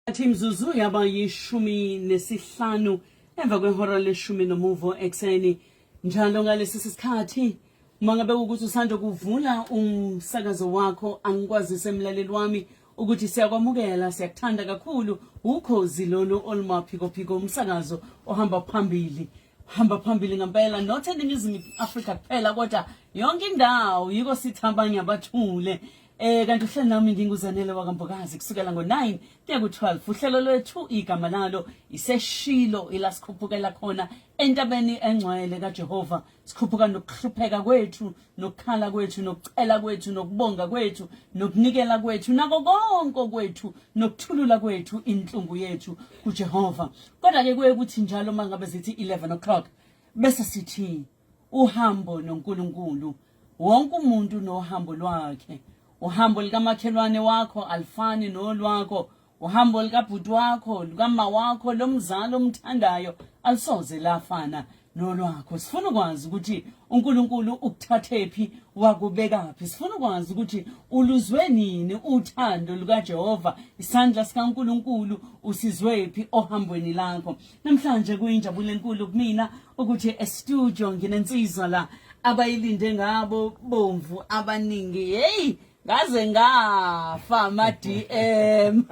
Athi imzuzu yaba yishumi nesihlanu emva kwehora leshumi nomuvo ekuseni njalo ngalesi sikhathi mangabe ukuthi usanda kuvula umsakazo wakho angikwazise emlaleli wami ukuthi siyakwamukela siyakuthanda kakhulu ukhozi lolu olumaphikophiko umsakazo ohamba phambili hamba phambili ngempela not eningizimu afrika kuphela kodwa yonke indawo yiko sithi abanye abathule Eh kanti uhlelo nami nginguzanele wakambokazi kusukela ngo-9 kuya ku-12 uhlelo lwethu igama lalo iseshilo ilasikhuphukela khona entabeni engcwele kaJehova sikhuphuka nokuhlupheka kwethu nokukhala kwethu nokucela kwethu nokubonga kwethu nokunikela kwethu nako konke kwethu nokuthulula kwethu inhlungu yethu kuJehova kodwa ke kuye kuthi njalo mangabe zithi 11 o'clock bese sithi uhambo noNkulunkulu wonke umuntu unohambo lwakhe uhambo likamakhelwane wakho alifani nolwakho uhambo likabhuti wakho lukama wakho lomzali omthandayo alisoze lafana nolwakho sifuna ukwazi ukuthi uNkulunkulu ukuthathephi wakubekaphi sifuna ukwazi ukuthi uluzwe nini uthando lukaJehova isandla sikaNkulunkulu usizwephi ohambweni lakho Namhlanje kuyinjabulo enkulu kumina ukuthi estudio nginensizwa la abayilinde ngabo bomvu abaningi hey ngaze ngafa ama DM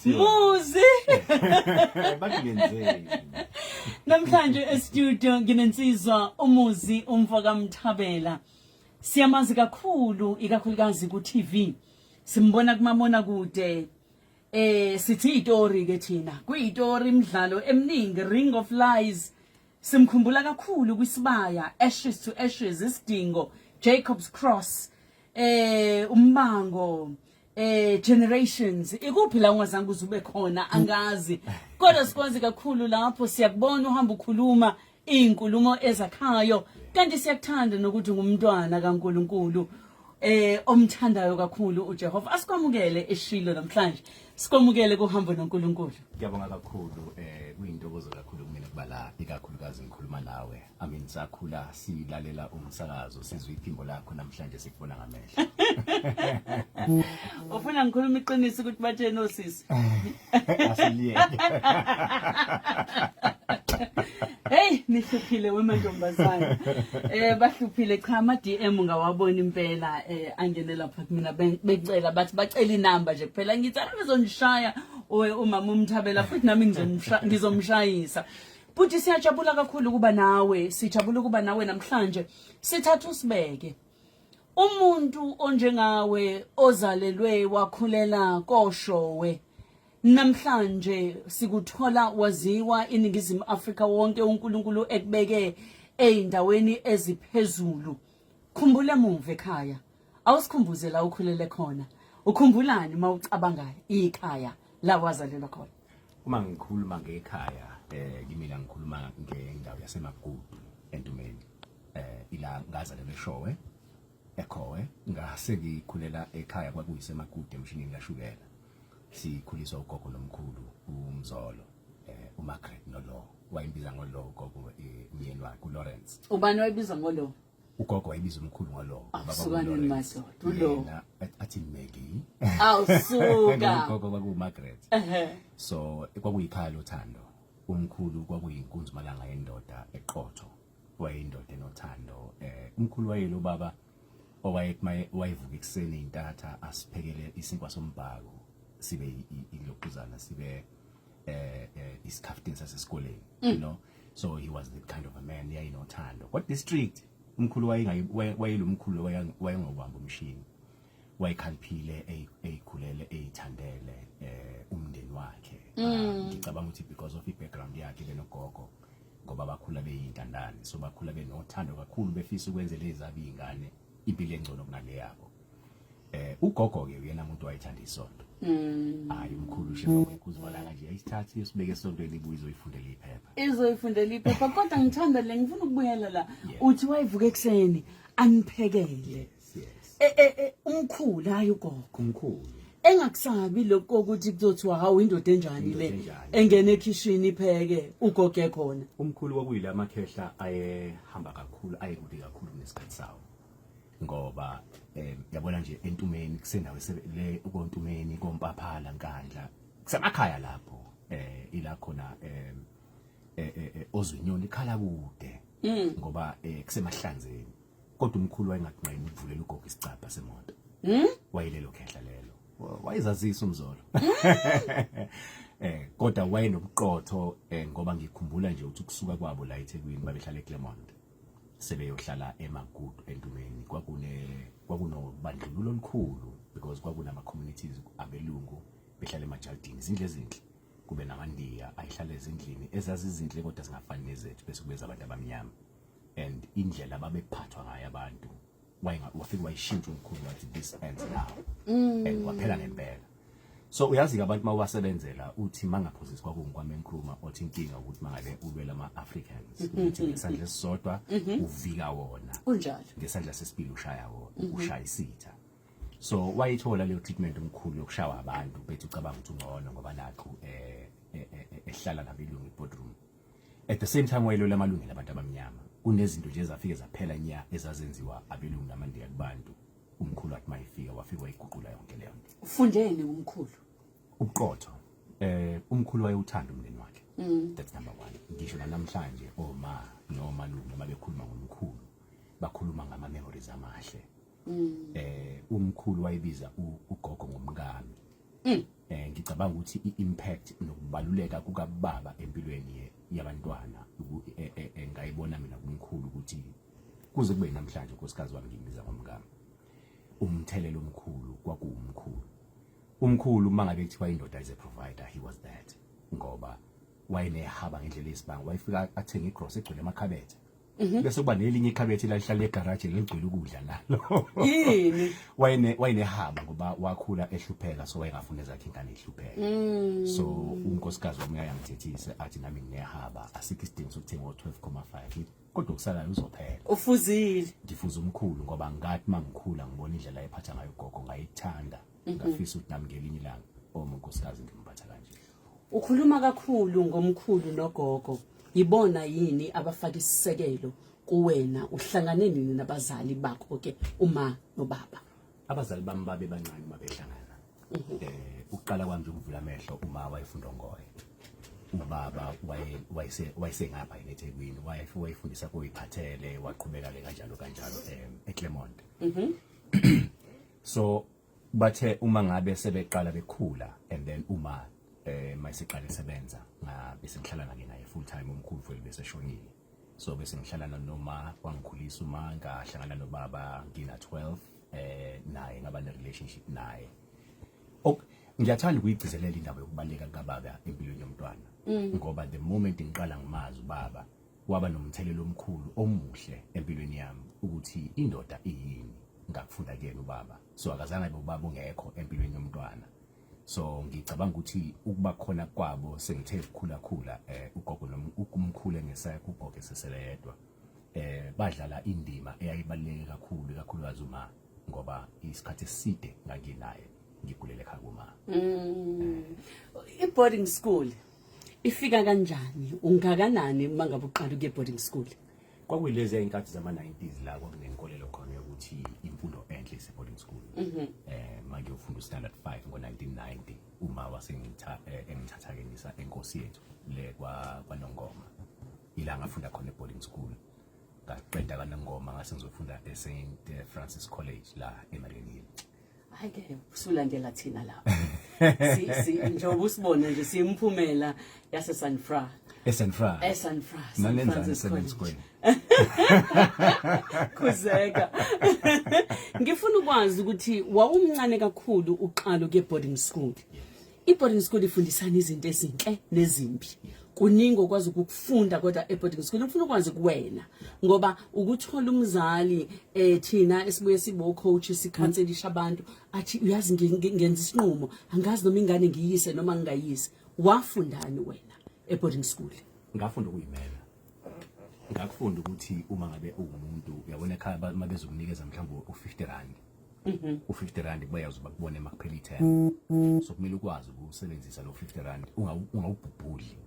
Muzi bakuyenzeni Namhlanje estudio nginensizwa umuzi umfo kaMthabela siyamazi kakhulu ikakhulukazi ku TV simbona kumamona kude eh sithi itori ke thina kuyitori imidlalo eminingi ring of lies simkhumbula kakhulu kwisibaya ashes to ashes isidingo jacobs cross eh umbango eh generations ikuphi la ungazange uzube khona angazi kodwa sikwazi kakhulu lapho siyakubona uhamba ukhuluma Inkulumo ezakhayo kanti siyakuthanda nokuthi ngumntwana kaNkuluNkulu eh omthandayo kakhulu uJehova asikwamukele eshilo namhlanje sikwamukele kuhambo noNkulunkulu ngiyabonga kakhulu eh kuyintokozo kakhulu kumina kuba la ikakhulukazi ngikhuluma nawe i mean sakhula silalela umsakazo sizwe iphimbo lakho namhlanje sikubona ngamehlo ufuna ngikhuluma iqiniso ukuthi batshene osisi asiliyeke Hey nihluphile wemantombazana. Eh bahluphile cha ama DM ngawabona impela eh angene lapha kumina becela bathi bacela inamba nje kuphela ngithi anizongishaya owe umama umthabela futhi nami ngizomshayisa. Futhi siyajabula kakhulu ukuba nawe, sijabula ukuba nawe namhlanje. Sithatha usibeke. umuntu onjengawe ozalelwe wakhulela koshowe namhlanje sikuthola waziwa iningizimu Afrika wonke uNkulunkulu ekubeke ezindaweni eziphezulu khumbula emuva ekhaya awusikhumbuze la ukhulele khona ukhumbulani uma ucabanga ikhaya la wazalelwa khona uma ngikhuluma ngekhaya eh kimina ngikhuluma ngendawo yasemagudu entumeni eh ila ngazalelwe eshowe ekhowe ngase ngikhulela ekhaya kwakuyise makude emshinini kashukela sikhuliswa ugogo nomkhulu umzolo eh uMargaret nolo wayimbiza ngolo ugogo eh, umyeni wakhe uLawrence ubani wayibiza ngolo ugogo wayibiza umkhulu ngolo ah, baba uSukanini madoda ulo athi Maggie awusuka ugogo kwaku Margaret so kwakuyikhaya lothando umkhulu kwakuyinkunzi malanga yendoda eqotho wayeyindoda enothando eh umkhulu wayelo baba owayekuma wayevuka ekuseni intatha asiphekele isinkwa sombhako sibe iloquzana sibe eh, eh isikhaftini sasesikoleni mm. you know so he was the kind of a man yayinothando kodwa district umkhulu wayengayi wayelomkhulu wayengobamba umshini wayekhaliphile eyikhulele eyithandele eh umndeni wakhe mm. ah, ngicabanga ukuthi because of i background yakhe benogogo ngoba bakhula beyintandane so bakhula benothando kakhulu befisa ukwenzela ezabo iy'ngane impilo engcono kunale yabo eh ugogo-ke uyena muntu wayethanda isonto Mm. hayi umkhulu ushe bakuzibona kanje ayisithathe usibeke esontweni ibuye izoyifundela iphepha izoyifundela iphepha kodwa ngithanda le ngifuna ukubuyela la uthi wayivuka ekuseni aniphekele yes. e, e, e, umkhulu hayi ugogo umkhulu engakusabi lokho ukuthi kuzothiwa hawu indoda enjani le engena ekhishini ipheke ugoge khona umkhulu kwakuyila amakhehla ayehamba kakhulu ayekude kakhulu kunesikhathi sawo ngoba um yabona nje entumeni kusendawo le kontumeni kompaphala nkandla kusemakhaya lapho eh ila khona um ozwinyoni ikhala kude mm. ngoba um kusemahlanzeni kodwa umkhulu wayengakunqeni ukuvulela ugogo isicabha semoto hmm? wayelelo khehla lelo wayezazisa umzolo hmm? eh kodwa wayenobuqotho eh, ngoba ngikhumbula nje ukuthi kusuka kwabo la eThekwini babehlala eClermont sebeyohlala eMagudu entumeni kwakune kwakunobandlululo olukhulu because kwakunama communities abelungu behlala emajalidini izindle ezinhle kube namandiya ayihlala ezindlini ezazizinhle kodwa zingafani nezethu bese kubeza abantu abamnyama and indlela babephathwa ngayo abantu wafike wayishintsha umkhulu wathi this ends now mm. and waphela ngempela so uyazi-ke abantu uma ubasebenzela uthi mangaphosisi kwakungikwame nkruma othi inkinga ukuthi mangabe ulwela ama-africans mm-hmm. uthi ngesandla esisodwa mm-hmm. uvika wona kunjalo ngesandla sesibili ushaya wona mm-hmm. ushaya isitha so wayithola leyo treatment omkhulu yokushawa abantu bethi ucabanga ukuthi ungcono ngoba nakho um eh, eh, eh, ehlala nabelungu ibodroom at the same time wayelwela amalungelo abantu abamnyama kunezinto nje ezafike zaphela nya ezazenziwa abelungu namandiya kubantu umkhulu athi mayifika wafika wayiguqula yonke leyo nto ufundeni umkhulu ubuqotho eh umkhulu wayewuthanda umndeni wakhe mm. that's number 1 ngisho namhlanje oma noma lungu mabekhuluma ngomkhulu bakhuluma ngama memories amahle mm. eh umkhulu wayibiza ugogo ngomkami mm. eh ngicabanga ukuthi iimpact nokubaluleka kukababa empilweni yabantwana e, e, e, ngayibona mina kumkhulu ukuthi kuze kube namhlanje unkosikazi wami ngimbiza ngomkami umthelelo omkhulu kwakuwumkhulu umkhulu uma ngabe kuthiwa indoda is a provider he was that ngoba wayenehaba ngendlela yesibanga wayefika athenge igross egcwele amakhabethe Mhm. bese kuba nelinye ikhabethe lalihlala egaraji leligcwele ukudla nalo yini wayene wayenehaba ngoba wakhula ehlupheka so wayengafuna ezakhe ingane ihlupheka mm. so unkosikazi wami uyayangithethise athi nami nginehaba asikho isidingo sokuthenga o12.5 kodwa okusalayo uzophela ufuzile ngifuza umkhulu ngoba ngathi mangikhula ngibona indlela ayephatha ngayo gogo ngayithanda mhm. ngafisa ukuthi nami ngelinye ilanga omunkosikazi ngimphatha kanje Ukhuluma kakhulu ngomkhulu nogogo yibona yini abafaka isisekelo kuwena uhlangane nini nabazali bakho ke uma nobaba abazali bami babe bancane uma behlangana mhm. eh ukuqala kwami nje ukuvula amehlo uma wayefunda ngoye ubaba wayese wayesengapha yini eThekwini wayefundisa kuyiphathele waqhubeka ke kanjalo kanjalo eh, eClermont mhm. so bathe uma ngabe sebeqala bekhula and then uma eh mayisiqale sebenza ngabe sengihlala nake naye full time umkhulu futhi bese shonile so bese ngihlala noma wangikhulisa uma ngahlangana nobaba ngina 12 eh naye ngaba ne relationship naye ok ngiyathanda ukuyigcizelela indaba yokubaleka kababa empilweni yomntwana mm. ngoba the moment ngiqala ngimazi ubaba Waba nomthelela omkhulu omuhle empilweni yami ukuthi indoda iyini ngakufunda kuyena ubaba so akazange abe ubaba ungekho empilweni yomntwana so ngicabanga ukuthi ukuba khona kwabo sengithe ukukhula khula eh ugogo nomkhulu engesaya kugogo esesele yedwa eh badlala indima eyayibaluleke kakhulu kakhulukazi uma ngoba isikhathi eside nganginaye ngigulele ekhaya kuma mm. eh. i boarding school ifika kanjani ungakanani uma ngabe uqala ukuye boarding school kwakuyilezi ayinkathi zama 90s la kwakunenkolelo khona yokuthi imfundo enhle ise boarding school mhm. eh manje ufunda standard 5 ngo 1990 uma wasengitha eh, engithatha ke ngisa enkosi yethu le kwa kwanongoma ila ngafunda khona boarding school ngaqeda kanongoma ngase ngizofunda e St eh, Francis College la eMariannhill hayi ke usulandela thina lapho si si njengoba usibona nje simphumela yase San Fra eSan Fra eSan Fra San Francisco khuzeka ngifuna ukwazi ukuthi wawumncane kakhulu uqalo ke boarding school I-boarding school ifundisana izinto ezinhle nezimbi kuningi okwazi ukufunda kodwa e-boarding school ngifuna ukwazi kuwena ngoba ukuthola umzali eh thina esibuye sibo coach sikhanselisha abantu athi uyazi ngenza isinqumo angazi noma ingane ngiyise noma ngingayise wafundani wena e-boarding school ngafunda ukuyimela ngakufunda ukuthi uma ngabe ungumuntu uyabona ekhaya uma bezokunikeza mhlawumbe u-50 rand Mhm. u-50 rand bayazi bakubone uma kuphela ithemba so kumele ukwazi ukusebenzisa lo 50 rand ungawubhubhudli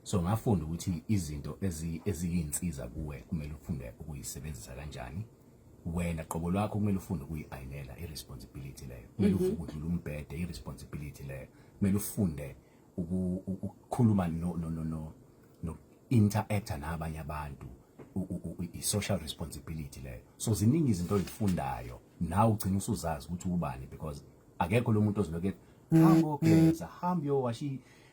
so ngafunda ukuthi izinto eziyinsiza kuwe kumele ufunde ukuyisebenzisa kanjani wena qobo lwakho kumele ufunde ukuyi-ayinela i-responsibility leyo kumele mhm. ufunde udlula umbhede i-responsibility leyo kumele ufunde ukukhuluma no no no no no interact nabanye abantu i social responsibility leyo so ziningi izinto ozifundayo nawe ugcina usuzazi ukuthi ubani because akekho lo muntu oziloke hambo geza hambo yowasha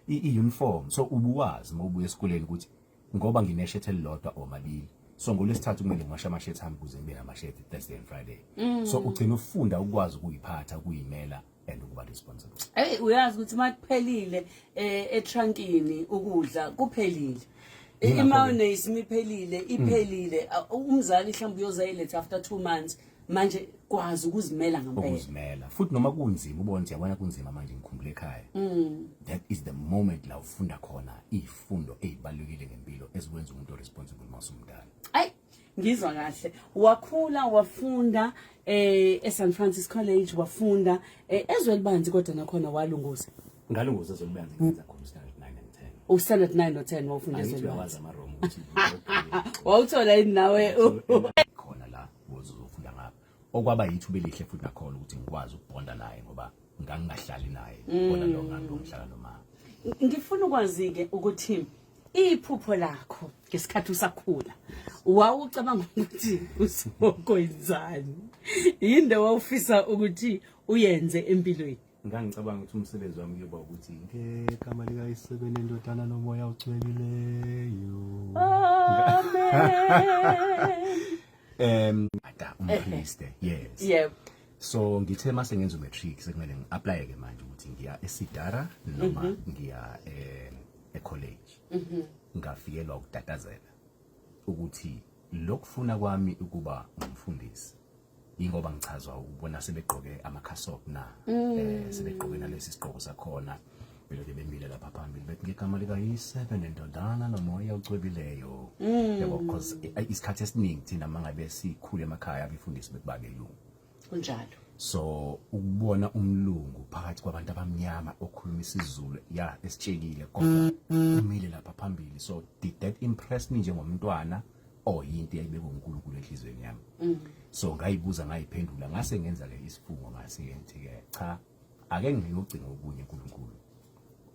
i-uniform so ubuwazi uma ubuya esikoleni ukuthi ngoba ngineshethi elilodwa or mabili so ngolwesithathu kumele ngiwashe amashethi ami kuze ngibe namashethi Thursday and Friday mm. so ugcina ufunda ukwazi ukuyiphatha ukuyimela and ukuba responsible hey uyazi ukuthi uma kuphelile eh, etrankini ukudla kuphelile imayonnaise imiphelile iphelile mm. uh, umzali mhlawumbe uyozayiletha after 2 months manje kwazi ukuzimela ngempela ukuzimela futhi noma kunzima ubona ukuthi yabona kunzima manje ngikhumbule ekhaya mm. that is the moment la ufunda khona ifundo ezibalulekile ngempilo ezikwenza umuntu responsible masumdala ay ngizwa kahle wakhula wafunda eh eSan Francis College wafunda eh, ezwe libanzi kodwa nakhona walunguza ngalunguza ezwe libanzi ngenza khona standard 9 and 10 u standard 9 no 10 wafunda ezwe libanzi wawuthola yini nawe khona la uzofunda ngapha okwaba yithuba elihle futhi nakhona ukuthi ngikwazi ukubonda naye ngoba ngangingahlali naye mm. bona lo nganto ngihlala nomama ngifuna ukwazi ke ukuthi iphupho lakho ngesikhathi usakhula wawucabanga ukuthi usokoyenzani yinde wawufisa ukuthi uyenze empilweni ngangicabanga ukuthi umsebenzi wami kuyoba ukuthi ngegama likayisebeni endodana nomoya ugcwelileyo um ada umpriste yes yep so ngithe mase ngenza umatric sekumele ngi-aplaye ke manje ukuthi ngiya esidara noma mhm. ngiya um ecollege mhm. ngafikelwa ukutatazela ukuthi lokufuna kwami ukuba ngumfundisi yingoba ngichazwa ukubona sebegqoke amakhasop na mm. eh sebegqoke nalesi sigqoko sakhona beloke bemile lapha phambili bethi ngegama likayise benendodana nomoya ocwebileyo mm. yabo because isikhathi esiningi thina mangabe sikhule emakhaya abefundisi bekubake lungu kunjalo so ukubona umlungu phakathi kwabantu abamnyama okhuluma isizulu ya esitshekile kodwa mm, mm. umile lapha phambili so did that impress me njengomntwana mm. or yinto eyayibekwe uNkulunkulu enhlizweni yami mm. so ngayibuza ngayiphendula ngase ngenza ke isifungo ngase ngithi ke cha ake ngiyogcina okunye uNkulunkulu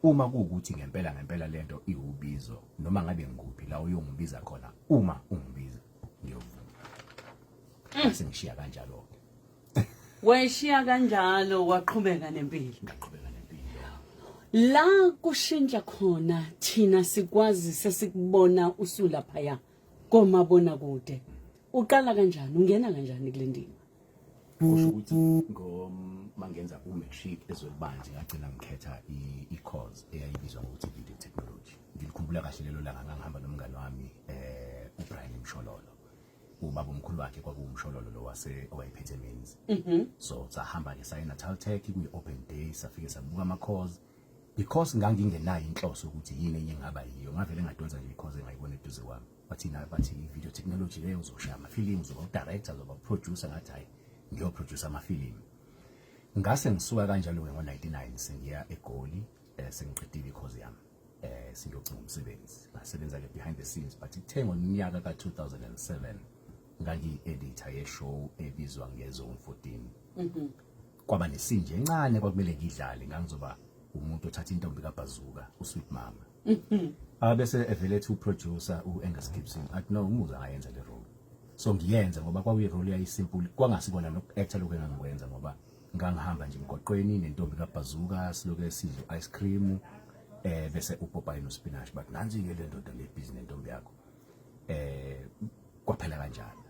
uma kuwukuthi ngempela ngempela lento iwubizo noma ngabe ngikuphi la uyongibiza khona uma ungibiza ngiyovuma mm. sengishiya kanjalo ke wayishiya kanjalo waqhubeka nempilo ngaqhubeka nempilo la kushintsha khona thina sikwazi sesikubona usula phaya komabona kude uqala kanjani ungena kanjani kule ndima kusho ukuthi ngomangenza ku-matric ezolibanje ngagcina ngikhetha i-course eyayibizwa ngokuthi video technology ngilikhumbula kahle lelo langa ngangihamba nomngane wami um ubrian mshololo ubaba omkhulu wakhe kwakuwumshololo lo wase owayephethe menzi mhm. so sahamba ke saye Natal Tech kuyi open day safike sabuka ama cause because ngangingenayo inhloso ukuthi yini enye ngaba yiyo ngavele ngadonsa nje because engayibona eduze kwami bathi nayo bathi video technology leyo uzoshaya ama films uba director uzoba producer ngathi hayi ngiyo producer ama film ngase ngisuka kanjalo ke ngo 99 sengiya egoli eh, sengiqedile ikhozi yami eh siyocinga umsebenzi basebenza ke behind the scenes but ithe ngonyaka ka-2007 ngangiyi-editor yeshow ebizwa ngezone 14 mhm. kwaba nesinje encane kwakumele ngidlale ngangizoba umuntu othatha intombi kabhazuka usweet mama mhm. abese evele ethi uproducer u-angus gibson athi no umuzi angayenza le role so ngiyenze ngoba kwakuyirole yayisimple kwangasikona noku-actor lokhu engangikwenza ngoba ngangihamba nje emgwaqweni nentombi kabhazuka siloke sidla ice cream eh bese upopayi nospinach but nansi ke le ndoda le business nentombi yakho eh kwaphela kanjalo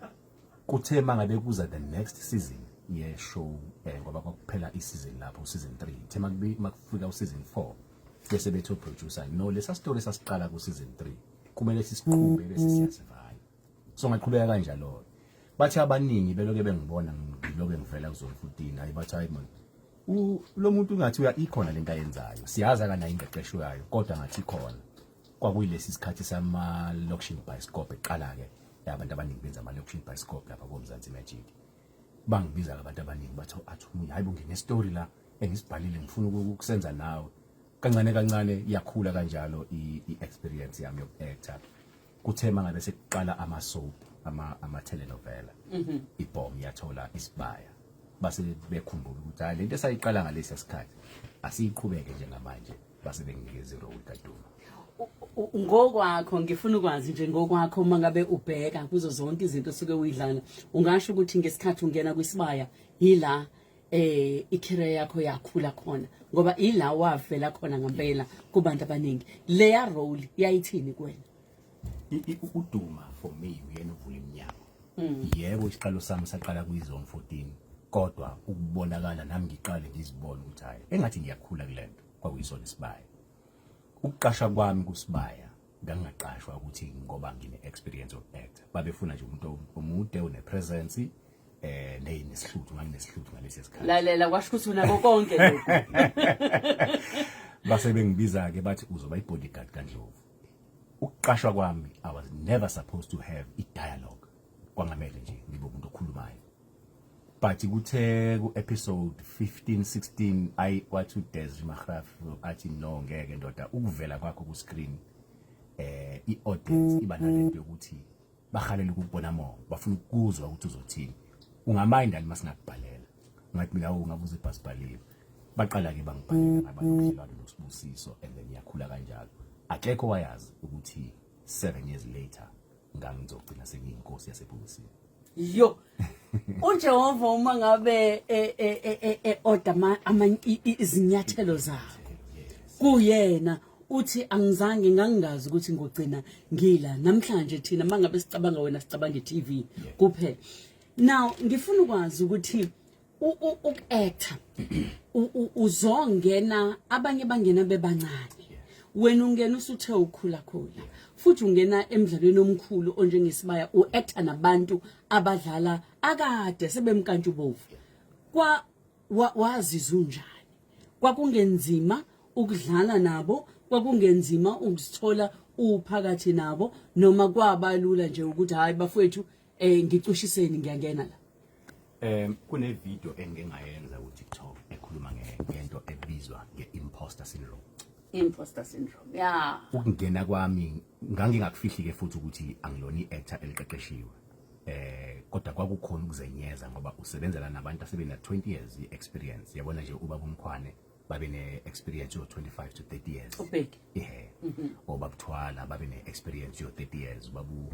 kuthe mangabe kuza the next season ye show eh ngoba kwakuphela i season lapho season 3 ithe makubi makufika u season 4 bese bethu producer no lesa story sasiqala ku season 3 kumele sisiqhube bese siyasivala so ngaqhubeka kanjalo bathi abaningi beloke bengibona ngiloke ngivela kuzona futhi hayi bathi hayi man lo muntu ungathi uya ikhona lento ayenzayo siyazi akanayo ingqeqesho yayo kodwa ngathi ikhona kwakuyilesi sikhathi sama location bioscope eqala ke abantu abaningi benza ama location bioscope lapha koMzansi Magic bangibiza abantu abaningi batho athi umunye hayibo ngine story la engisibhalile ngifuna ukukusenza nawe kancane kancane iyakhula kanjalo i experience yami yokuactor kuthe mangabe sekuqala ama soap ama ama telenovela mhm. ibhomu yathola isibaya base bekhumbula ukuthi hayi lento esayiqala ngalesi sikhathi asiyiqhubeke njengamanje base benginikeza irole kaduma ngokwakho ngifuna ukwazi nje ngokwakho uma ngabe ubheka kuzo zonke izinto osuke uyidlala ungasho ukuthi ngesikhathi ungena kwisibaya yila eh ikhireya yakho yakhula khona ngoba ila wavela khona ngempela kubantu abaningi leya role yayithini kuwena uduma for me uyena uvula iminyango mm. yebo isiqalo sami saqala kuyizone 14 kodwa ukubonakala nami ngiqale ngizibona ukuthi hayi engathi ngiyakhula kulento kwakuyisona isibaya ukuqasha kwami kusibaya ngangingaqashwa ukuthi ngoba ngine experience of act babefuna nje umuntu omude one presence eh neyi nesihluthu nganginesihluthi ngalesi sikhathi lalela kwasho ukuthi unako konke lokho base bengibiza ke bathi uzoba i bodyguard kaNdlovu ukuqashwa kwami i was never supposed to have i dialogue kwangamele nje ngibe umuntu okhulumayo but kuthe ku episode 15 16 ayi wathi uDez Magraf athi no ngeke ndoda ukuvela kwakho ku screen eh i audience iba nalento yokuthi bahalela ukubona mo bafuna ukuzwa ukuthi uzothini ungamind alima singakubhalela ngathi mina ungabuza ibhasibhaliwe baqala ke bangibhalela ngabalobudlelwano nosibusiso and then yakhula kanjalo akekho wayazi ukuthi 7 years later ngangizogcina sengiyinkosi yasebhokisini yo uJehova uma ngabe e- e- e- e- e- order ama- ama- i- i- izinyathelo zakho kuyena uthi angizange ngangingazi ukuthi ngogcina ngila namhlanje thina mangabe sicabanga wena sicabanga iTV kuphela now ngifuna ukwazi ukuthi uku-actor uzongena abanye bangena bebancane wena ungena usuthe ukhulakhula futhi ungena emdlalweni omkhulu onjengesibaya u-actor nabantu abadlala akade sebemkantshubovu kwa wazizwa unjani kwakungenzima ukudlala nabo kwakungenzima ukuzithola uphakathi nabo noma kwabalula nje ukuthi hayi bafowethu Eh ngicushiseni ngiyangena la. Um kune video engingayenza ku TikTok ekhuluma ngento ebizwa nge-imposter syndrome. Imposter syndrome. Yeah. Ukungena kwami ngangingakufihli ke futhi ukuthi angilona i-actor eliqeqeshiwe. Eh kodwa kwakukhona ukuzenyeza ngoba usebenzela nabantu asebena 20 years experience. Yabona nje ubaba umkhwane babe ne-experience yo-25 to 30 years ubheki ihe mhm. or babuthwala babe ne-experience yo-30 years babu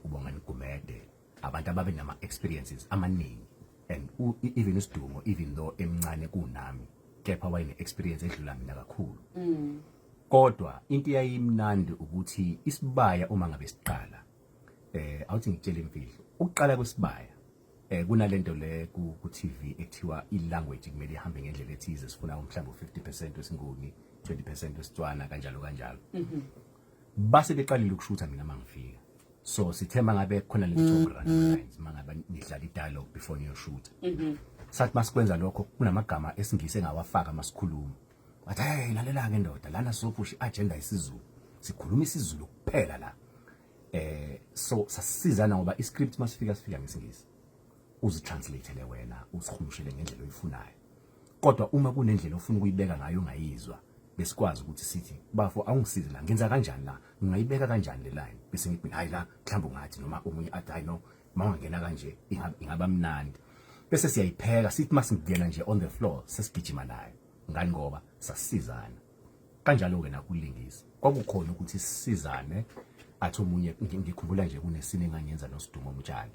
ubongani gumede abantu ababe nama-experiences amaningi and even usidumo even though emncane kunami kepha wayene-experience edlula mina kakhulu mm. kodwa into eyayimnandi ukuthi isibaya uma ngabe siqala eh awuthi ngitshele imfihlo ukuqala kwesibaya Eh kunalento le ku, ku TV ekuthiwa i language kumele ihambe ngendlela ethize sifuna umhlambo 50% wesinguni 20% wesitswana kanjalo kanjalo. Mhm. Base beqalile ukushutha mina mangifika. So sithe mangabe khona lesithobo mm, running mm. lines mangabe nidlala i dialogue before niyoshuta. Mhm. Sathi masikwenza lokho kunamagama esingise ngawafaka masikhuluma. Wathi hey lalela ke ndoda lana sophusha agenda isiZulu. Sikhuluma isiZulu kuphela la. eh so sasizana ngoba iscript masifika sifika ngesingisi uzitranslate wena usikhumushele ngendlela oyifunayo kodwa uma kunendlela ofuna ukuyibeka ngayo ungayizwa besikwazi ukuthi sithi bafo awungisize la ngenza kanjani la ngingayibeka kanjani le line bese ngithi hayi la mhlawumbe ungathi noma omunye athi hayi no mawangena kanje ingaba mnandi bese siyayipheka sithi masingena nje on the floor sesigijima nayo ngani ngoba sasizana kanjalo-ke nakulingisa kwakukhona ukuthi sisizane athi omunye ngikhumbula nje kunesini engangenza nosidumo mtshali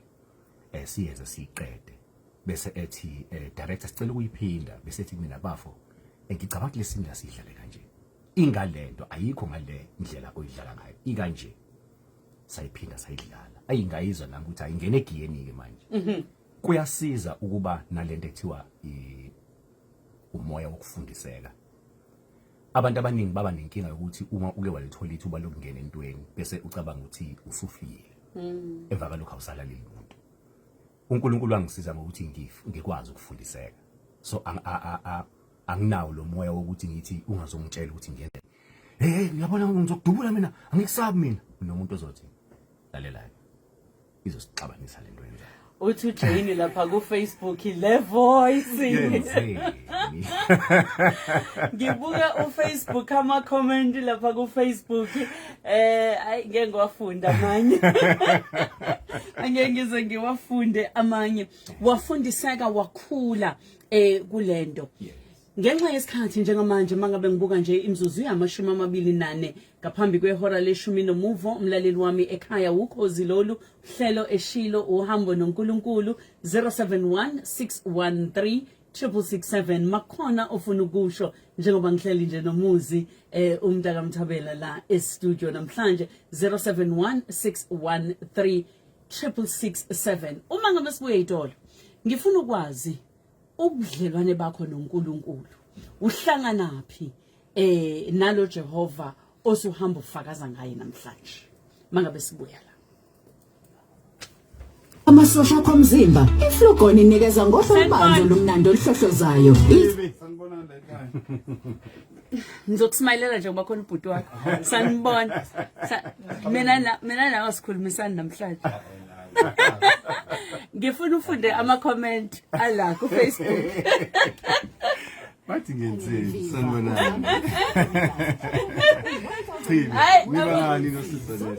um eh, siyenze siyiqede bese ethi um director sicela ukuyiphinda bese ethi mina bafo ngicabanga kule sini lasidlale kanje ingale nto ayikho ngale ndlela oyidlala ngayo ikanje sayiphinda sayidlala ayingayizwa nami ukuthi ayingene egiyeni-ke manje mhm. kuyasiza ukuba nalento ethiwa umoya wokufundiseka abantu abaningi baba nenkinga yokuthi uma uke walithola ithuba lokungena entweni bese ucabanga ukuthi usufile mm. emva kalokho awusalaleli muntu uNkulunkulu wangisiza ngokuthi ngikwazi ukufundiseka so anginawo lo moya wokuthi ngithi ungazongitshela ukuthi ngenze hey ngiyabona ngizokudubula mina angikusabi mina nomuntu ozothi lalela izosixabanisa lento yenzayo uthi ujeyini lapha kufacebook le voice yenzeni ngibuka ufacebook ama-comment lapha kufacebook eh ayi ngeke ngiwafunde amanye angeke ngize ngiwafunde amanye wafundiseka wakhula eh kulento Ngenxa yesikhathi njengamanje mangabe ngibuka nje imzuzu yamashumi amabili nane ngaphambi kwehora leshumi nomuvo umlaleli wami ekhaya wukhozi lolu hlelo eshilo uhambo noNkulunkulu 071613 667 makhona ofuna ukusho njengoba ngihleli nje nomuzi eh umntaka Mthabela la e studio namhlanje 071613 667 uma ngabe sibuye itolo ngifuna ukwazi ubudlelwane bakho noNkulunkulu uhlangana phi eh nalo Jehova osuhamba ufakaza ngaye namhlanje mangabe sibuya la amasosha akho omzimba iflugon inikeza ngohlo olubanzi olumnandi oluhlohlozayo sanibonani la ekhaya ngizokusmayilela nje ngoba khona ubhuti wakho sanibona mina mina nawe sikhulumisani namhlanje ngifuna ufunde ama-comment ala kufacebook bathi ngenzeni sanibonani nibanani nosizolelo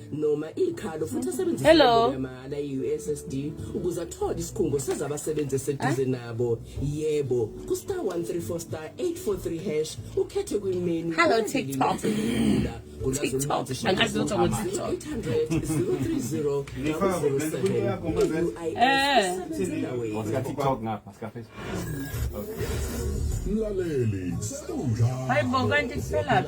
noma ikhalo futhi asebenzise Hello. yamahhala i-ussd ukuze athole isikhungo sezabasebenzi eseduze nabo yebo ku-star 134 star 843 hash ukhethe kwimenu Hello, TikTok. TikTok. Angazi lutho ngo TikTok. 800 030 007 Eh. What's got TikTok ngapha? mlaleli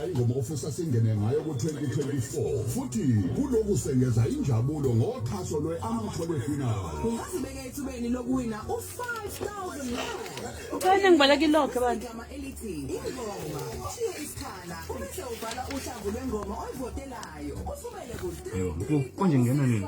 ingoma ofisa singene ngayo ku-2024 futhi kuloku sengeza injabulo ngoxhaso lwe-amathole final ungazibeka ethubeni lokuwina u-5000 ukhane ngibala kilokhe bantu elithi ingoma shiye isikhala ubese ubhala uhlamvu lwengoma oyivotelayo usumele ku-3 konje ngena nini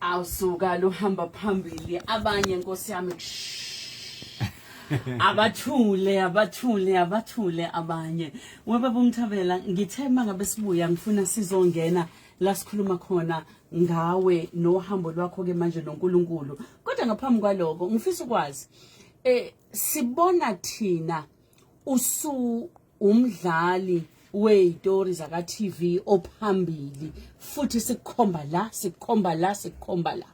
awusuka luhamba phambili abanye nkosi yami abathule abathule abathule abanye webaba umthabela ngithe mangabe sibuya ngifuna sizongena la sikhuluma khona ngawe nohambo lwakho ke manje noNkulunkulu kodwa ngaphambi kwaloko ngifisa ukwazi eh sibona thina usu umdlali weyitori zaka TV ophambili futhi sikukhomba la sikukhomba la sikukhomba la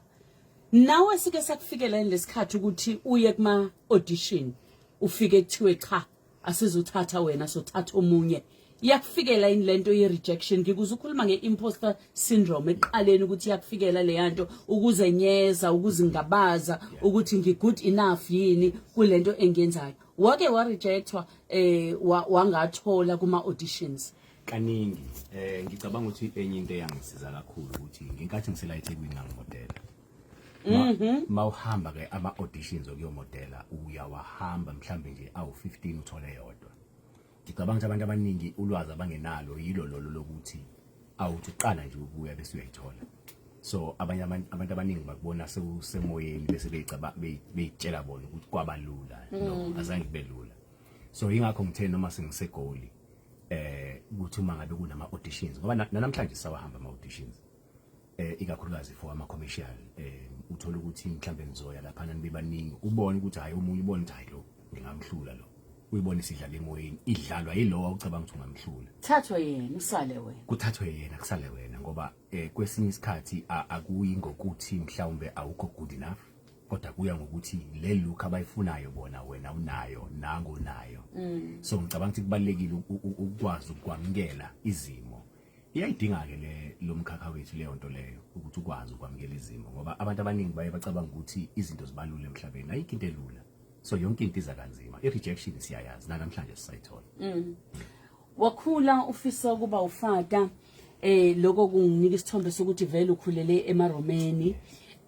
nawe sike sakufikela lesikhathi ukuthi uye kuma audition ufike kuthiwe cha asizothatha wena sothatha omunye yakufikela yini lento ye rejection ngikuze ukhuluma nge imposter syndrome eqaleni ukuthi yakufikela leyanto ukuzenyeza ukuzingabaza ukuthi ngi good enough yini kulento engenzayo wake warejectwa eh wa- wangathola kuma auditions kaningi eh ngicabanga ukuthi enye into eyangisiza kakhulu ukuthi ngenkathi ngisela eThekwini ngangimodela Mhm. ma uhamba ke ama auditions okuyomodela uyawahamba mhlambe nje awu 15 uthole yodwa Ngicabanga ukuthi abantu abaningi ulwazi abangenalo yilo lolo lokuthi awuthi uqala nje ukuya bese uyayithola so abanye abantu abaningi bakubona sewusemoyeni bese beyitshela bona ukuthi kwaba lula no mm. azange kube lula so yingakho ngithe noma sengisegoli eh ukuthi uma ngabe kunama auditions ngoba nanamhlanje sawahamba ama auditions eh ikakhulukazi for ama commercial eh uthola ukuthi mhlambe nizoya lapha nibe baningi ubone ukuthi hayi omunye ubone ukuthi hayi lo ngingamhlula lo uyibone sidlala emoyeni idlalwa yilowa ucabanga ukuthi ungamhlula thathwe yena usale wena kuthathwe yena kusale wena ngoba eh kwesinye isikhathi akuyi ngokuthi mhlawumbe awukho good enough kodwa kuya ngokuthi le look abayifunayo bona wena unayo nango nayo mm. so ngicabanga ukuthi kubalekile ukwazi ukwamkela izimo Iyayidinga-ke le lomkhakha wethu leyo nto leyo ukuthi ukwazi ukwamukela izimo ngoba abantu abaningi baye bacabanga ukuthi izinto zibalula emhlabeni ayikho into elula so yonke into iza kanzima i-rejection siyayazi nanamhlanje sisayithola mm. wakhula ufisa ukuba ufata eh lokho kunginika isithombe sokuthi vele ukhulele emaromeni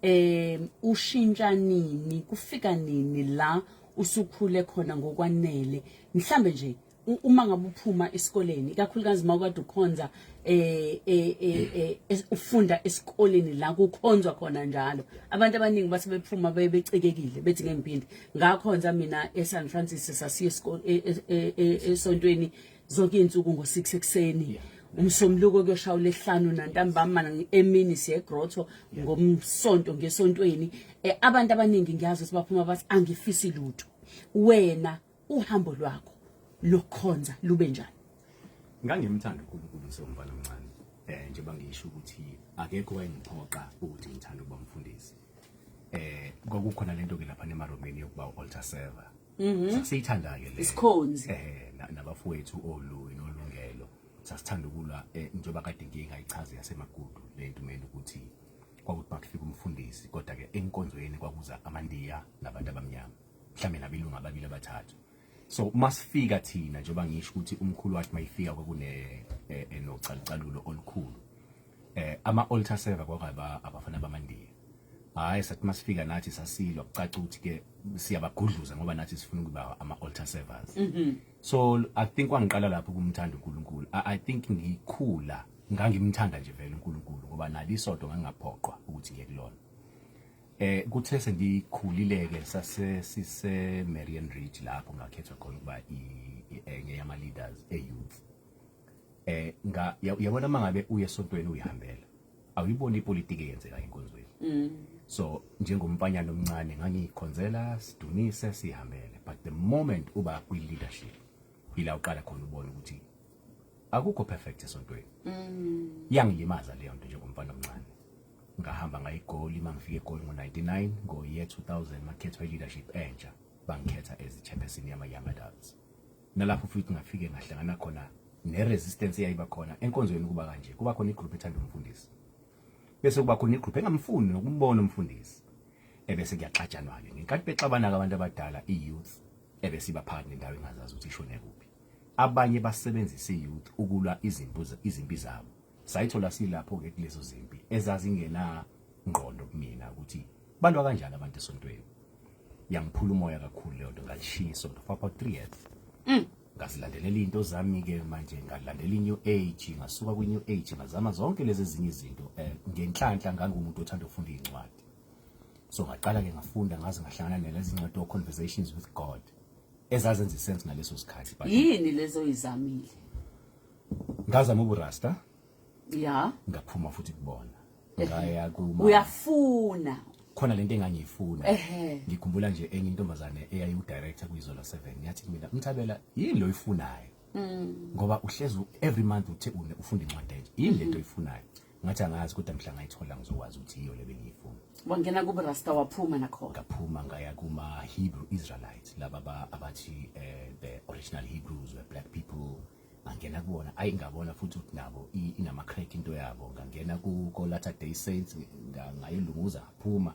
eh ushintsha nini kufika nini la usukhule khona ngokwanele mhlambe nje uma ngabe uphuma esikoleni ikakhulukazi mawukade ukhonza eh, eh, eh, eh ufunda esikoleni la kukhonzwa khona njalo abantu abaningi base bephuma bebecekekile bethi ngemphindi ngakhonza mina eSan Francisco sasiye e, e, e, esontweni zonke insuku ngo6 ekseni umsomluko kuyoshaya lehlanu nantambama emini siye grotto ngomsonto ngesontweni abantu abaningi ngiyazi ukuthi baphuma bathi angifisi lutho wena uhambo lwakho lokukhonza lube njani ngangimthanda uNkulunkulu ngisewumfana omncane eh njengoba ngisho ukuthi akekho wayengiphoqa ukuthi ngithanda ukuba mfundisi eh kwakukhona lento ke lapha nemaromeni yokuba u-altar server mhm. sasiyithanda ke le isikhonzi eh nabafowethu olu nolungelo sasithanda ukulwa eh, njengoba kade ngingayichazi yasemagudu lento mina ukuthi kwakuthi bakufika umfundisi kodwa ke enkonzweni kwakuza amandiya nabantu abamnyama mhlawumbe nabelungu ababili abathathu so masifika thina njengoba ngisho ukuthi umkhulu wathi mayifika kwakune eh, eh, nocalucalulo olukhulu eh ama altar server kwakaba abafana bamandiya hayi sathi masifika nathi sasilwa kucaca ukuthi ke siyabagudluza ngoba nathi sifuna ukuba ama altar servers mm -hmm. so i think wangiqala lapho kumthanda uNkulunkulu I, i think ngikhula ngangimthanda nje vele uNkulunkulu ngoba nali isonto ngangaphoqwa ukuthi ngiye kulona Eh kuthe sengikhulileke sase sise Marian Ridge lapho ngakhethwa khona ukuba enye yama leaders e youth. Eh nga yabona mangabe uye sontweni uyihambela. Awuyiboni ipolitiki eyenzeka enkonzweni. Mm. So njengomfanyana omncane ngangikhonzela sidunise sihambele but the moment uba kwi leadership ila uqala khona ubona ukuthi akukho perfect esontweni. Mm. Yangilimaza leyo nto njengomfana omncane. ngahamba ngayigoli uma ngifike egoli ngo-99 ngo-year 2000 makhethwa i-leadership entsha bangikhetha as i-chairperson yama-young adults nalapho futhi ngafike ngahlangana khona ne-resistance eyayiba khona enkonzweni kuba kanje kuba khona igroup ethanda umfundisi bese kuba khona igroup engamfuni nokumbona umfundisi ebese kuyaxatshanwa-ke ngenkathi bexabana-ke abantu abadala i-youth ebese iba phakathi nendawo engazazi ukuthi ishone kuphi abanye basebenzisa i-youth ukulwa izimpi zabo Sayithola silapho-ke kulezo zimpi ezazingenangqondo kumina ukuthi balwa kanjani abantu esontweni. Yangiphula umoya kakhulu leyo nto ngalishiya isonto for about three years. Mm. Ngazilandelela into zami-ke manje ngalandela i-new age ngasuka kwi-new age ngazama zonke lezi ezinye izinto um ngenhlanhla ngangumuntu othanda ukufunda iy'ncwadi so ngaqala-ke ngafunda ngaze ngahlangana nalezi ncwadi o-conversations with god ezazenza isense ngaleso sikhathi yini lezo izamile ngazama uburasta ya ngaphuma futhi kubona ngaya kuma uyafuna khona lento engangiyifuna ngikhumbula nje enye intombazane eyayiwudirector kwizola 7 yathi kumina umthabela yini lo uyifunayo mm. ngoba uhlezi every month uthe une ufunda incwadi enje yini lento oyifunayo ngathi angazi kodwa mhla ngayithola ngizokwazi ukuthi yiyo le bengiyifuna wangena kubo rasta waphuma nakhona ngaphuma ngaya kuma Hebrew Israelites laba abathi eh the original Hebrews were black people ngangena kubona ayi ngabona futhi ukuthi nabo inama crack into yabo ngangena ku Latter Day Saints ngayilunguza ngaphuma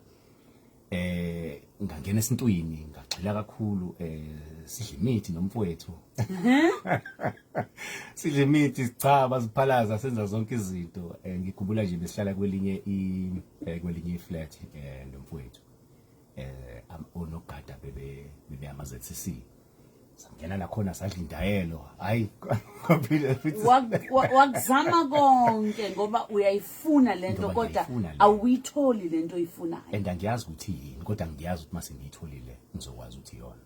eh ngangena esintwini ngagxila kakhulu eh sidla imithi nomfowethu sidla imithi sichaba siphalaza senza zonke izinto eh, ngikhumbula nje besihlala kwelinye i eh, kwelinye i flat eh nomfowethu eh onogada bebe bebe ama ZCC sangena nakhona sadla indayelo hayi ngaphile futhi wakuzama konke ngoba uyayifuna lento Ngoba kodwa ngiyayifuna le. awuyitholi lento oyifunayo and angiyazi ukuthi yini kodwa ngiyazi ukuthi mase ngiyitholile ngizokwazi ukuthi iyona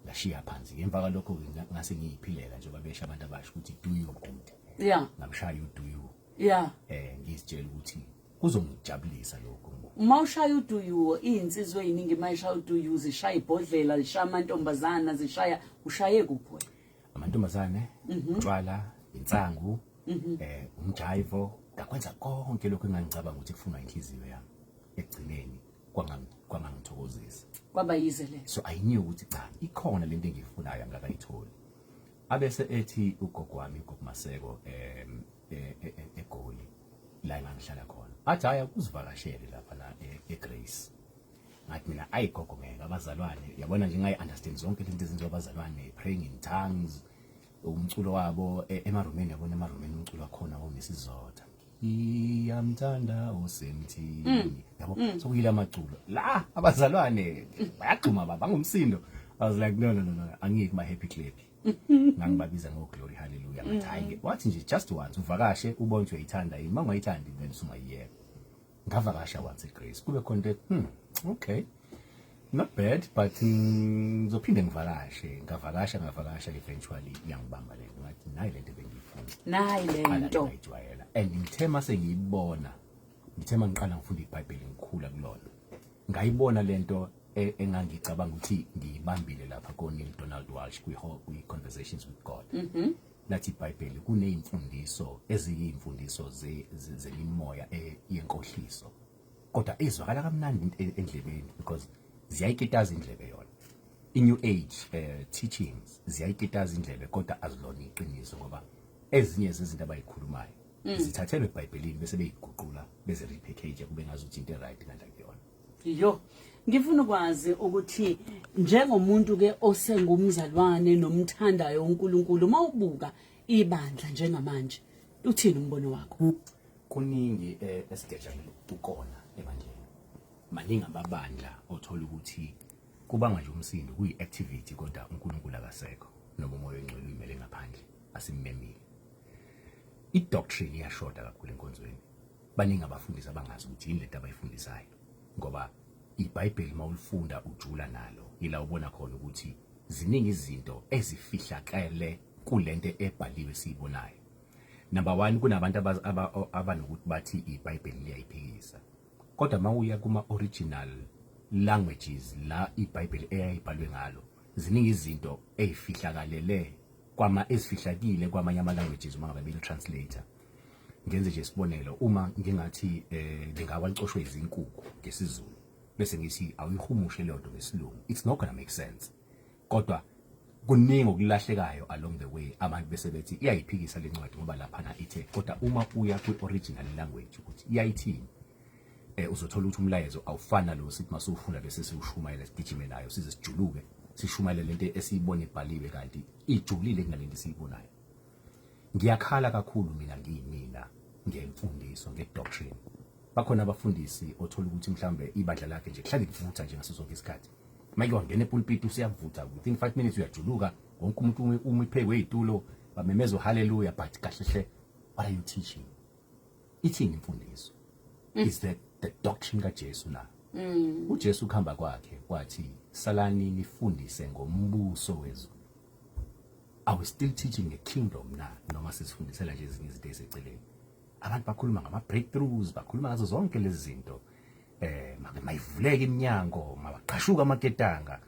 ngashiya phansi ngemva kwalokho ke nga- ngase ngiyiphilela njengoba besha abantu abasho ukuthi do your duty yeah ngamshaya uduyu yeah eh ngizitshela ukuthi kuzomjabulisa lokho uma ushaya uduyuwo iyinsizwe eyiningi uma ishaya uduyuwo zishaya ibhodlela zishaya amantombazana zishaya ushaye kuphi wena amantombazane mhm. utshwala insangu mhm. eh umjaivo ngakwenza konke lokho engangicabanga ukuthi kufunwa inhliziyo yami ekugcineni kwangangithokozisa kwaba yize le so i knew ukuthi cha ikhona lento engiyifunayo angakayitholi abese ethi ugogo wami ugogo Maseko um e, e, e, eGoli la engangihlala khona athi haya kuzivakashele lapha la eGrace ngathi mina ayi gogo ngeke abazalwane yabona nje ngayi understand zonke izinto ezenziwa abazalwane praying in tongues umculo wabo emarumeni yabona emarumeni umculo wakhona wongesizotha iyamthanda usemthini mm. yabo mm. sokuyila amaculo la abazalwane bayagxuma baba ngumsindo i was like no no no no angiyiki ma happy clip ngangibabiza ngo glory hallelujah ngathi mm-hmm. hayi wathi nje just once uvakashe ubonje uyayithanda yini mangayithandi then sungayiyeka ngavakasha once igrace kube khona into hmm okay not bad but ngizophinde mm, ngivakashe ngavakasha ngavakasha eventually iyangibamba le nto ngathi nayi le nto bengiyifuna nayi le nto ngiyijwayela and ngithe mase ngiyibona ngithe mangiqala ngifunda ibhayibheli ngikhula kulona Ngayibona lento e, engangicabanga ukuthi ngiyibambile lapha ko Neil Donald Walsh kwi kwi Conversations with God. Mhm. Mm Lathi iBhayibheli kunezimfundiso eziyimfundiso ze- ze- zemimoya e- yenkohliso. Kodwa ezwakala kamnandi into e- endlebeni because ziyayikitaza indlebe yona. I new age eh teachings ziyayikitaza indlebe kodwa azilona iqiniso ngoba ezinye zezinto abayikhulumayo zithathelwe eBhayibhelini bese beyiguqula beze repackage kube ngazuthi into right kanti akuyona yo ngifuna ukwazi ukuthi njengomuntu ke osengumzalwane nomthandayo uNkulunkulu uma ubuka ibandla njengamanje uthini umbono wakho kuningi eh, esigejana ukukona ebandleni maningi amabandla othola ukuthi kubanga nje umsindo kuyi activity kodwa uNkulunkulu akasekho noma umoya ongcwele uyimele ngaphandle asimmemile idoctrine iyashoda kakhulu enkonzweni baningi abafundisi abangazi ukuthi yini lento abayifundisayo ngoba iBhayibheli mawulifunda ujula nalo ila ubona khona ukuthi ziningi izinto ezifihlakele kulento ebhaliwe siyibonayo number 1 kunabantu abanokuthi bathi iBhayibheli liyayiphikisa kodwa mawuya kuma original languages la iBhayibheli eyayibhalwe ngalo ziningi izinto ezifihlakalele kwama ezifihlakile kwamanye ama languages uma ngabe bili translator ngenze nje isibonelo uma ngingathi eh ngingawa licoshwe izinkukhu ngesizulu bese ngithi awuyihumushe leyo nto ngesilungu it's not gonna make sense kodwa kuningi okulahlekayo along the way abantu bese bethi iyayiphikisa le ncwadi ngoba laphana ithe kodwa uma uya kwi-original language ukuthi iyayithini eh uzothola ukuthi umlayezo awufana lo sithi masufunda bese siwushumayela sigijime nayo size sijuluke sishumayele lento esiyibona ibhaliwe kanti ijulile kunalento esiyibonayo ngiyakhala kakhulu mina ngiyimina ngemfundiso ngedoctrine bakhona abafundisi othola ukuthi mhlambe ibandla lakhe nje kuhlale kuvutha nje ngaso sonke isikhathi manje wangena epulpit usiyavutha within 5 minutes uyajuluka wonke umuntu uma iphekwe izitulo bamemeza haleluya but kahle hle what are you teaching ithini imfundiso mm. is the, the doctrine kaJesu la mm. uJesu kuhamba kwakhe kwathi salani nifundise ngombuso wezulu are we still teaching the kingdom na noma sisifundisela nje ezinye izinto eziceleni abantu bakhuluma ngama breakthroughs bakhuluma ngazo zonke lezi zinto eh mayivuleke iminyango mabaqashuka amaketanga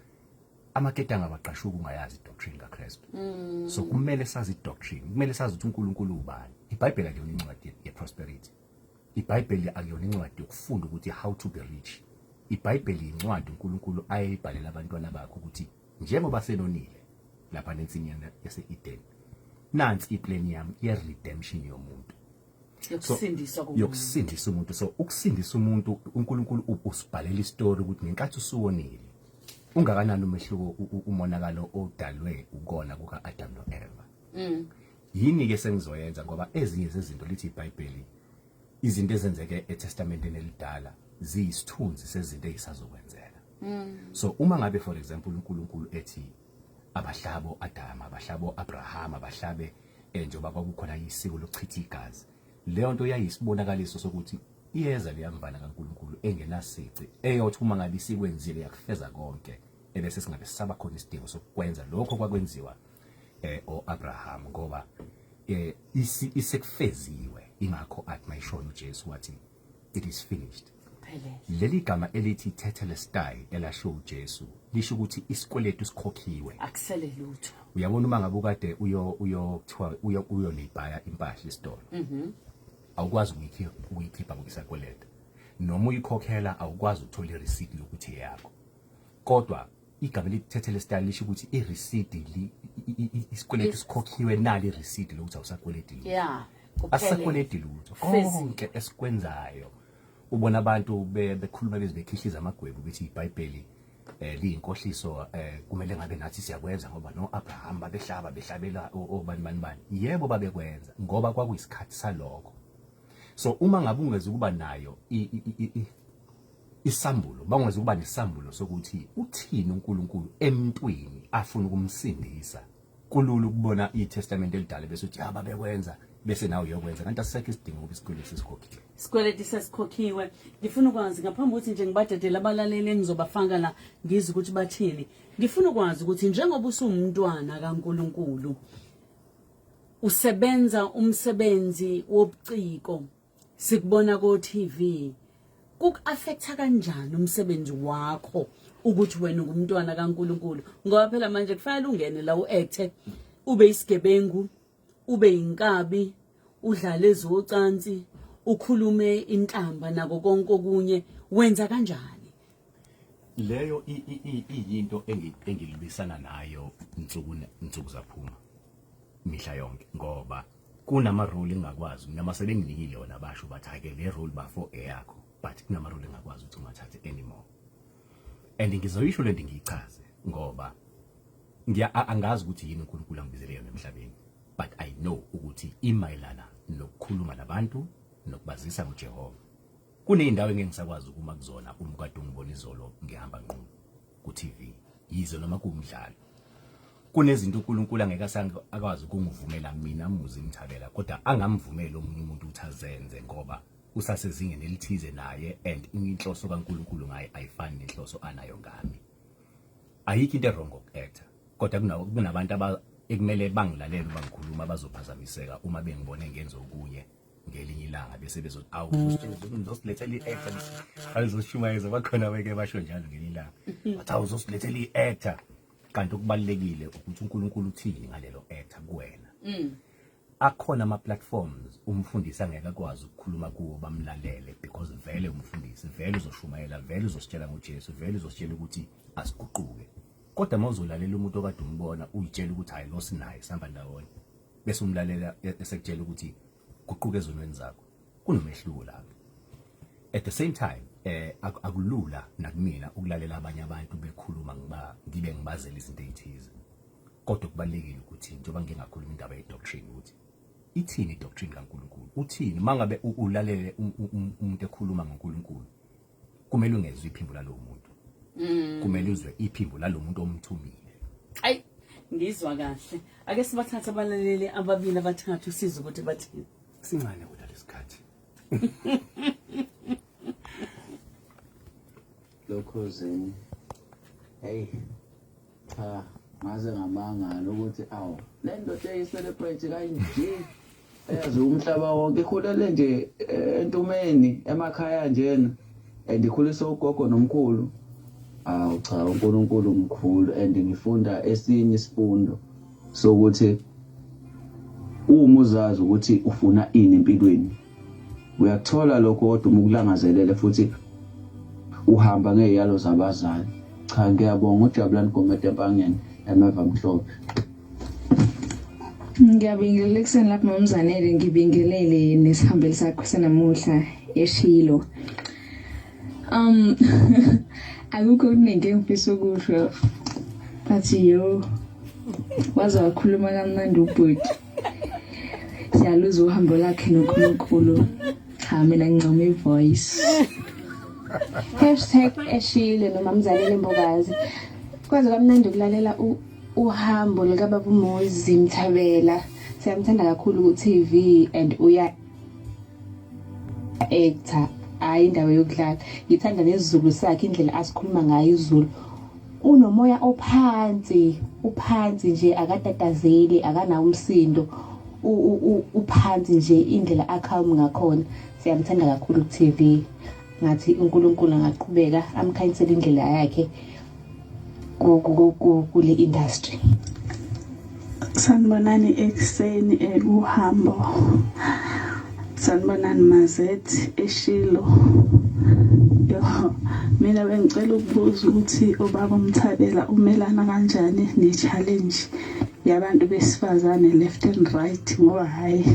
amaketanga abaqashuka ungayazi doctrine kaKristu mm. so kumele sazi doctrine kumele sazi ukuthi uNkulunkulu ubani iBhayibheli akuyona incwadi yeprosperity iBhayibheli akuyona incwadi yokufunda ukuthi how to be rich iBhayibheli incwadi uNkulunkulu ayeyibhalela abantwana bakhe ukuthi njengoba senonile lapha nensinyana yase-Eden nansi iplan yami ye-redemption yomuntu yokusindiswa komuntu yokusindisa umuntu so ukusindisa umuntu uNkulunkulu usibhalela istory ukuthi ngenkathi usuwonile ungakanani umehluko umonakalo odalwe ukona kuka Adam no Eva mm. yini ke sengizoyenza ngoba ezinye zezinto lithi iBhayibheli izinto ezenzeke eTestamenteni elidala ziyisithunzi sezinto ezisazokwenzeka mm. so uma ngabe for example uNkulunkulu ethi abahlabo Adam abahlabo Abraham abahlabe eh, njengoba kwakukhona isiko lokuchitha igazi leyo nto yayisibonakaliso sokuthi iyeza leyamvana kaNkulunkulu engenasici eyothi uma ngabe isikwenzile yakufeza konke ebese singabe sisaba khona isidingo sokwenza lokho kwakwenziwa eh oAbraham ngoba eh isekufeziwe ingakho athi mayishona uJesu wathi it is finished leli gama elithi tetelestai elasho uJesu lisho ukuthi isikweletu sikhokhiwe akusele lutho uyabona uma ngabe ukade uyo uyo kuthiwa uyo uyo libhaya impahla isitolo mhm awukwazi ukuyikhipha ukuyikhipha ngokusakweleta noma uyikhokhela awukwazi ukuthola ireceipt yokuthi yakho kodwa igama elithethe lesitali lisho ukuthi irisidi isikweletu sikhokhiwe nali irisidi lokuthi awusakweleti lutho yeah asisakweleti lutho konke esikwenzayo ubona abantu bekhuluma beze bekhihliza amagwebu ukuthi ibhayibheli eh liyinkohliso eh kumele ngabe nathi siyakwenza ngoba no Abraham babehlaba behlabela obani bani bani yebo babekwenza ngoba kwakuyisikhathi saloko so uma ngabe ungeze ukuba nayo isambulo bangwazi ukuba nesambulo sokuthi uthini uNkulunkulu emntwini afuna ukumsindisa kulula ukubona iTestament elidala bese uthi haba bekwenza bese nawe uyokwenza kanti asisekho isidingo ukuthi isikweletu sesikhokhiwe isikweletu sesikhokhiwe ngifuna ukwazi ngaphambi ukuthi nje ngibadedele abalaleli engizobafaka la ngizwe ukuthi bathini ngifuna ukwazi ukuthi njengoba usumntwana kaNkuluNkulu usebenza umsebenzi wobuciko sikubona ko TV kuk affecta kanjani umsebenzi wakho ukuthi wena ungumntwana kaNkuluNkulu ngoba phela manje kufanele ungene la uacte ube isigebengu ube inkabi udlale zocansi ukhulume intamba nako konke okunye wenza kanjani leyo iyinto engilibisana nayo nsuku nsuku zaphuma mihla yonke ngoba kunama role engakwazi mina masebenginikile yona basho bathi ake le role bafo eyakho but kunama role engakwazi ukuthi ungathathe anymore and ngizoyisho lento ngiyichaze ngoba ngiya angazi ukuthi yini uNkulunkulu angibizele yona emhlabeni but i know ukuthi imayelana nokukhuluma nabantu nokubazisa uJehova Kuneyindawo engeke ngisakwazi ukuma kuzona uma kade ungibona izolo ngihamba nqunu ku TV yize noma kuwumdlalo kunezinto uNkulunkulu angeke akwazi ukungivumela mina muzi imthabela kodwa angamvumeli omunye umuntu ukuthi azenze ngoba usasezingeni elithize naye and inhloso kaNkulunkulu ngaye ayifani nenhloso anayo ngami ayikho into ewrong ngokuactor kodwa kunabantu ekumele bangilalele uma ngikhuluma bazophazamiseka uma bengibone ngenza okunye ngelinye ilanga bese bezothi awu uzosilethela i-actor ayizoshumayeza bakhona beke basho njalo ngelinye ilanga bathi awu uzosilethela i-actor kanti okubalulekile ukuthi uNkulunkulu uthini ngalelo actor kuwena mm. akhona ama platforms umfundisi angeke akwazi ukukhuluma kuwo bamlalele because vele umfundisi vele uzoshumayela vele uzositshela ngoJesu vele uzositshela ukuthi asiguquke kodwa mawuzolalela umuntu okade umbona uyitshela ukuthi hayi lo sinaye sihamba ndawonye bese umlalela e-, esekutshela ukuthi guquka ezonweni zakho kunomehluko lapho at the same time eh akulula nakumina ukulalela abanye abantu bekhuluma ngiba ngibe ngibazela izinto ezithize kodwa kubalekile ukuthi njengoba ngingakhuluma indaba ye doctrine ukuthi ithini i doctrine kaNkuluNkulu uthini mangabe ulalele umuntu ekhuluma ngoNkuluNkulu kumele ungezwe iphimbo lalowo muntu mm. kumele uzwe iphimbo lalowo muntu omthumile ayi ngizwa kahle ake sibathathe abalaleli ababili abathathu size ukuthi bathini sincane kodwa lesikhathi lokhozini hey cha ngaze ngamangala ukuthi awu le ndoda eyiselebrate kanje eyazi umhlaba wonke ikhulele nje eh, entumeni emakhaya njena and ikhulisa ugogo nomkhulu awu cha unkulunkulu mkhulu and ngifunda esinye isifundo sokuthi uma uzazi ukuthi ufuna ini empilweni uyakuthola lokho kodwa uma ukulangazelele futhi uhamba ngeyalo zabazali cha ngiyabonga ujabulani gomede empangeni emeva mhlophe ngiyabingelela ekuseni lapho mamzanele ngibingelele nesihambeli sakho senamuhla eshilo um akukho okuningi engifisa ukusho but yo waze wakhuluma kamnandi ubhuti siyaluza uhambo lakhe nonkulunkulu cha mina ngincoma i-voice hashtag eshile nomamzalele mbokazi kwaze kwamnandi ukulalela uhambo likababa umuzi mthabela siyamthanda kakhulu ku-tv and uya ektha hayi indawo yokudlala ngithanda nesizulu sakhe indlela asikhuluma ngayo izulu unomoya ophansi uphansi nje akatatazeli akanawo umsindo uphansi nje indlela acalm ngakhona siyamthanda kakhulu ku-tv ngathi unkulunkulu angaqhubeka amkhanyisele indlela yakhe kule industry sanibonani ekuseni ekuhambo sanibonani mazethi eshilo mina bengicela ukubuza ukuthi ubaba umthabela umelana kanjani ne-challenge yabantu besifazane left and right ngoba hhayi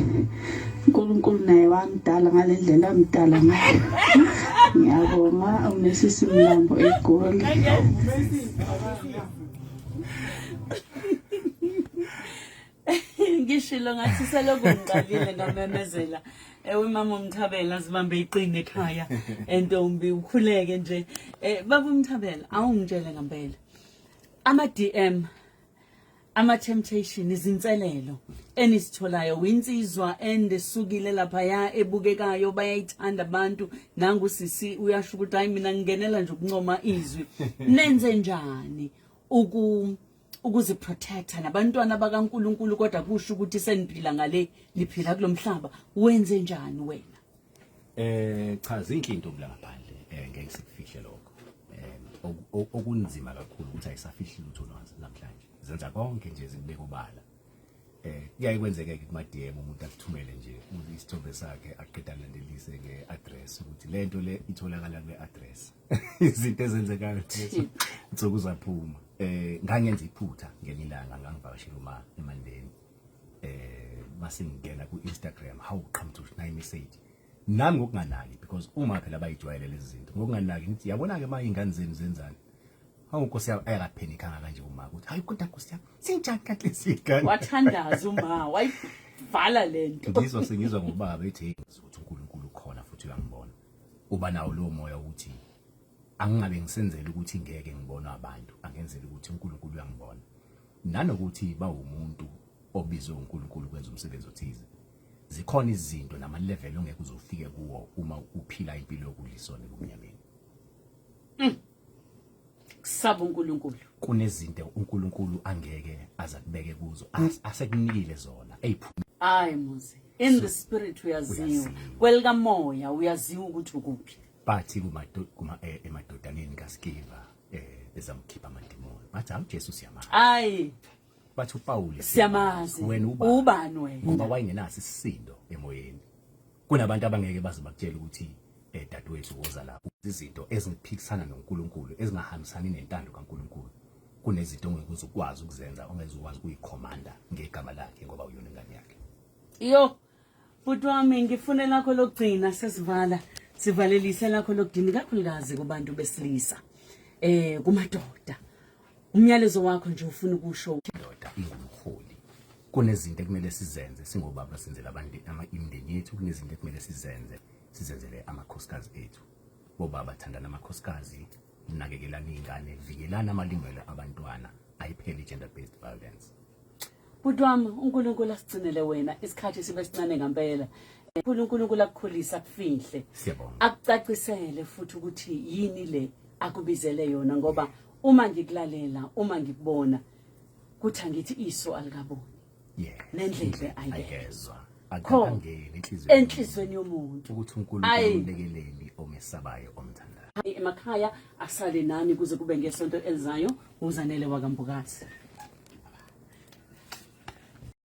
uNkulunkulu naye wangidala ngale ndlela amdala ngayo ngiyabonga unesisi mlambo egoli ngishilo ngathi selokhu ngiqalile ngamemezela ewe mama umthabela zibambe iqini ekhaya entombi ukhuleke nje eh baba umthabela awungitshele ngempela ama DM ama-temptation izinselelo enisitholayo winsizwa endesukile laphaya ebukekayo bayayithanda abantu nangusisi uyasho ukuthi hayi mina ngingenela nje ukuncoma izwi nenze njani uku ukuziprotecta nabantwana bakaNkuluNkulu kodwa kusho ukuthi seniphila ngale niphila kulomhlaba wenze njani wena Eh cha zinhle into kula ngaphandle eh ngeke sikufihle lokho. Eh okunzima kakhulu ukuthi ayisafihli lutho nwazi namhlanje. Zenza konke nje zikubeka obala. Eh kuyaye kwenzeke ke kuma DM umuntu akuthumele nje uthi isithombe sakhe aqeda landelise nge address ukuthi lento le itholakala kule address. Izinto ezenzeka ukuthi nsuku zaphuma. Eh ngangenza iphutha ngenilanga ngangivakashela uma eMandeni. eh masingena ku Instagram how come to nayi message nami ngokunganaki because uma phela bayijwayele lezi zinto ngokunganaki ngithi yabona ke manje ingane zenu zenzani hawu nkosi yami ayakaphenika kanje uma ukuthi hayi kodwa nkosi yami sinjani kanti sigane wathandaza uma wayivala lento ngizwa sengizwa ngobaba ethi ukuthi uNkulunkulu ukhona futhi uyangibona uba nawo lo moya ukuthi angingabe ngisenzele ukuthi ngeke ngibonwe abantu angenzele ukuthi uNkulunkulu uyangibona Nanokuthi bawumuntu obizwe uNkulunkulu kwenza umsebenzi othize. Zikhona izinto nama level ongeke uzofike kuwo uma uphila impilo yokulisona kumnyameni. Mm. Kusaba uNkulunkulu. Kunezinto uNkulunkulu angeke azakubeke kuzo mm. asekunikile zona. Eyiphuma. Hayi muzi. In the spirit uyaziwa. Kwelika moya uyaziwa ukuthi ukuphi. Bathi kuma kuma eh, emadodaneni kaSkiva. eh bezamkhipha amadimoni bathi hawu Jesu siyamazi hayi bathi uPawulu siyamazi wena ubani ubani wena ngoba wayengenaso isisindo emoyeni kunabantu abangeke baze bakutshela ukuthi eh dadewethu woza lapho izinto eziphikisana noNkulunkulu ezingahambisani nentando kaNkulunkulu kunezinto ongeke uzukwazi ukuzenza ongeze ukwazi kuyikhomanda ngegama lakhe ngoba uyona ingane yakhe iyo Bhuti wami ngifune lakho lokugcina sesivala sivalelise lakho lokudini kakhulukazi kubantu besilisa eh kumadoda umyalezo wakho nje ufuna ukusho indoda ingumholi kunezinto ekumele sizenze singobaba senzela abantu ama imindeni yethu kunezinto ekumele sizenze sizenzele amakhosikazi ethu bobaba thandana amakhosikazi nakekelani iy'ngane vikelani amalungelo abantwana ayipheli i-gender based violence bhuti wami unkulunkulu asigcinele wena isikhathi sibe sincane ngampela unkulunkulu akukhulise akufihle akucacisele futhi ukuthi yini le akubizele yona ngoba uma ngikulalela uma ngikubona kuthi angithi iso alikaboni yes nendlebe ayezwa akangeni inhliziyo enhlizweni yomuntu ukuthi uNkulunkulu umbekeleni omesabayo omthandayo emakhaya asale nani kuze kube ngesonto elizayo uzanele wakambukazi